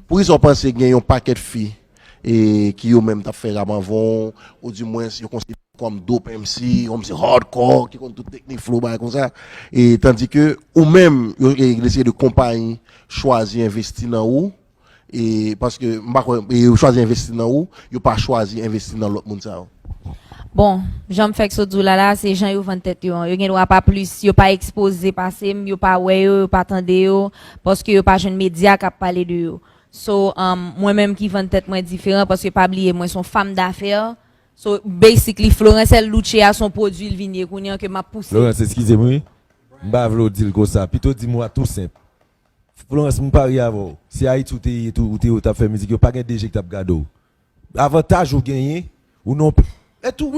Pou kisa w panse gen yon pakèt fi ki yo menm tap fè rap anvan w, ou di mwens yo konsidere yo kòm dope MC, yon msi hardcore ki konn tout teknik flow bagay konsa, tandi ke ou menm yo gen seri de konpayi chwazi envesti nan ou, paske m pa kwè yo chwazi envesti nan ou, yo pa chwazi envesti nan lòt moun sa yo? Bon, jan m fèk sot di w la la, se jan yo vann tèt yo an. Yo gen dwa pa plis, yo pa ekspoze pase m, yo pa wè yo, yo pa tande yo, paske yo pa jwenn medya k ap pale de yo. So, mwen menm ki vann tèt mwen diferan, paske pa bliye mwen se yon fam dafè, so basically Florence L. Louche a se yon pwodui l vin ye kounye an ke m ap pouse. Florence, eskize m wi, m pa vle w di l konsa, pito di m wa tou senp. Florence, m parye avè w, si Ayiti w te ye tou, ou te ye ou t ap fè mizik, yo pa gen 2 je k t ap gade w. Avantaj ou genyen ou non peyi.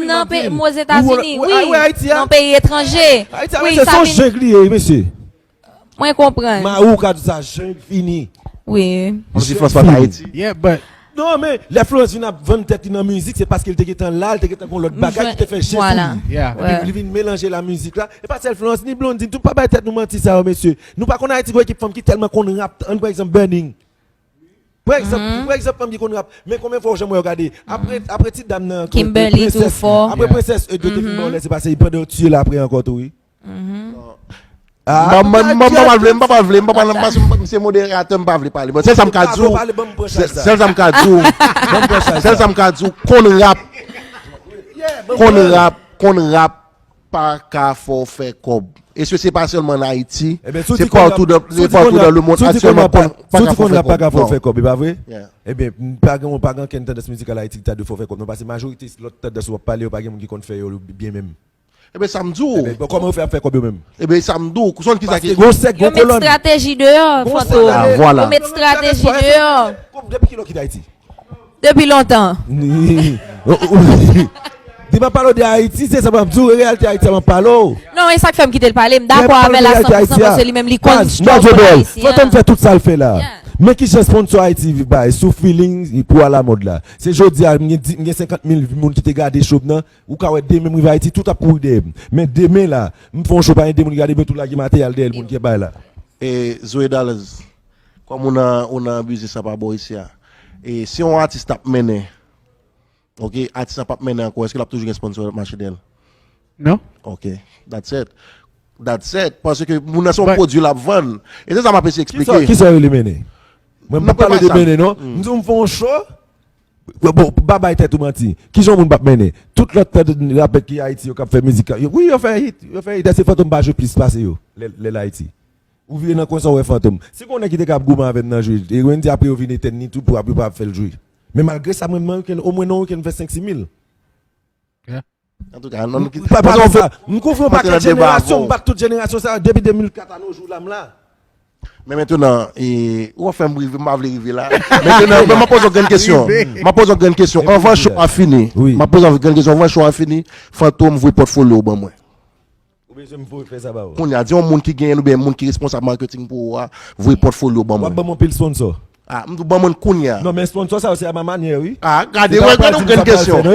Nan peyi m Ozetazini wi, nan peyi etranje wi sa vin. Son jungle li ye wi mesye. Mwen konprann. Mayi w ka di sa jungle fini. Wi. Kòm si Florence pa t Ayiti. Yeah but. Non men lè Florence vin ap vann tèt li nan mizik se paske li te gentan la, li te gentan gon lòt bagay ki te fè je pou li. Yeah. Epi li vin melanje l a mizik la. E pa sèl Florence ni Blondine tou pa bay tèt nou manti sa yo mesye. Nou pa konn Ayiti gon ekip fanm ki tèlman konn rap ann pran egzanp Burning. Pou egzanp pou egzanp anmye konn rap men konbyen fwa ou janm wè yo gade apre apre ti dam nan ankò Kimberly tou prensès fò apre prensès e dote fin bon lè se pase y pandan yo tiye l apre ankò tou wi Banm banm banm banm pavle m papa vle m papa nan paske m se moderatè m pa vle pale bon sèl sa m ka di w sè sèl sa m ka di w sèl sa m ka di w konn rap konn rap konn rap pa ka fè w fè kòb. E se se pa sèlman an Ayiti, se patou nan le mond aktyèlman pa ka fè w fè kòb. E pa vre? Ebyen, pa gen pa gen ankenn tandans mizikal Ayiti ki ta dwe fè w fè kòb non pase majorite lòt tandans ou ap pale yo pa gen moun ki konn fè yo byen menm. Ebyen sa m di w. Ebyen, kòman yo fè ap fè kòb yo menm? Ebyen sa m di w, ou sonn kisa ki. Paske gen yon sèk, gen yon kolòn. Yo met estrateji deyò, Fantom. Yo met estrateji deyò. Depi kilè w kite Ayiti? Depi lontan. Di m ap pale w de Ayiti, se sa m ap di w, e reyalite Ayiti a m ap pale w. Non, e sa k fè m kite l pale, m dakò avè l a 100 pou 100 paske li menm li konn struggle ayisyen an. Baz, Major Bell, Fantom fè tout sa l fè la. Men ki jan sponsor Ayiti bay sou feeling pou alamòd la. Se jodi a m gen 50 mil moun ki te gade show m nan, ou ka wè demen m rive Ayiti tout ap kouri dèyè m. Men demen la, m fè yon show pa gen 2 moun ki gade m yo tou lage materyal dèyè l moun ki ap bay la. E Zoe Dallas, Kòm ou nan ou nan biznis la pa bò isi a e si yon atis tap mennen ok atis la pap mennen ankò eske lap toujou gen sponsor lap mache dèyèl? Non. Ok that's it that's it paske moun nan se yon pwodwi lap vann e se sa map eseye eksplike. Kisa yo rele mennen? Mwen pap pale de mennen non m di w m fè yon show bon pa bay tèt ou manti kijan yon moun pap mennen tout lòt rapè ki ayiti yo kap fè mizik wi yo fè hit yo fè hit èske fantom pa jwe plis pase yo lèl ayiti Ou vire nan kwen sa ou wè fantom. Si gon nèg ki te ka ap goumen avèm nan jwe e Wendy apre yo vin etèn ni tou pou ap yo pa ap fèl jwe. Men malgre sa mrenmn weekend omwen nan yon weekend mfè 5 simil. Antouka an nou kite. Pale de sa. M kouvri yon pakèt jenerasyon, m bat tout jenerasyon sa yo depi 2004 a no jou la m la. Men mentenan e ou ap fèm rive m pa vle rive la. Mentenan men map poze yon grenn kesyon. Map poze yon grenn kesyon anvan show a fini. Map poze yon grenn kesyon anvan show a fini. Fantom voye pòtfolyo ou ban mwen. Ou bezwen m voye fè sa ba ou? Kounya, di yon moun ki genyen oubyen moun ki responsab marketing pou ou a voye portfolio ban mwen. Wap ban m yon pil sponsor. Ah, m di w ban mwen kounya. Non, men sponsor sa yo se a ma manyè wi. Ah, gade, wè gade yon grenn kesyon.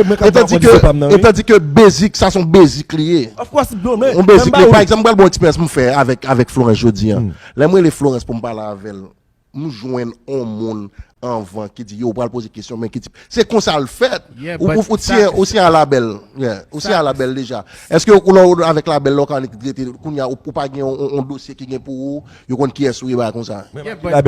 Etadi ke basic sa son basic li ye. Of course bro, men. Yon basic, men pa egzanp m pral ba w eksperyans m fè avèk Florence jodi an. Lè m rele Florence pou m pale avè l, M jwenn on moun anvan ki di yo ou pral poze kesyon men ki tip se konsa l fèt ou se a la bèl ou se a la bèl deja èske ou lè ou avèk la bèl lè ou ka rete kounya ou pa gen on dosye ki gen pou ou yo konn kiyès ou ye bagay konsa.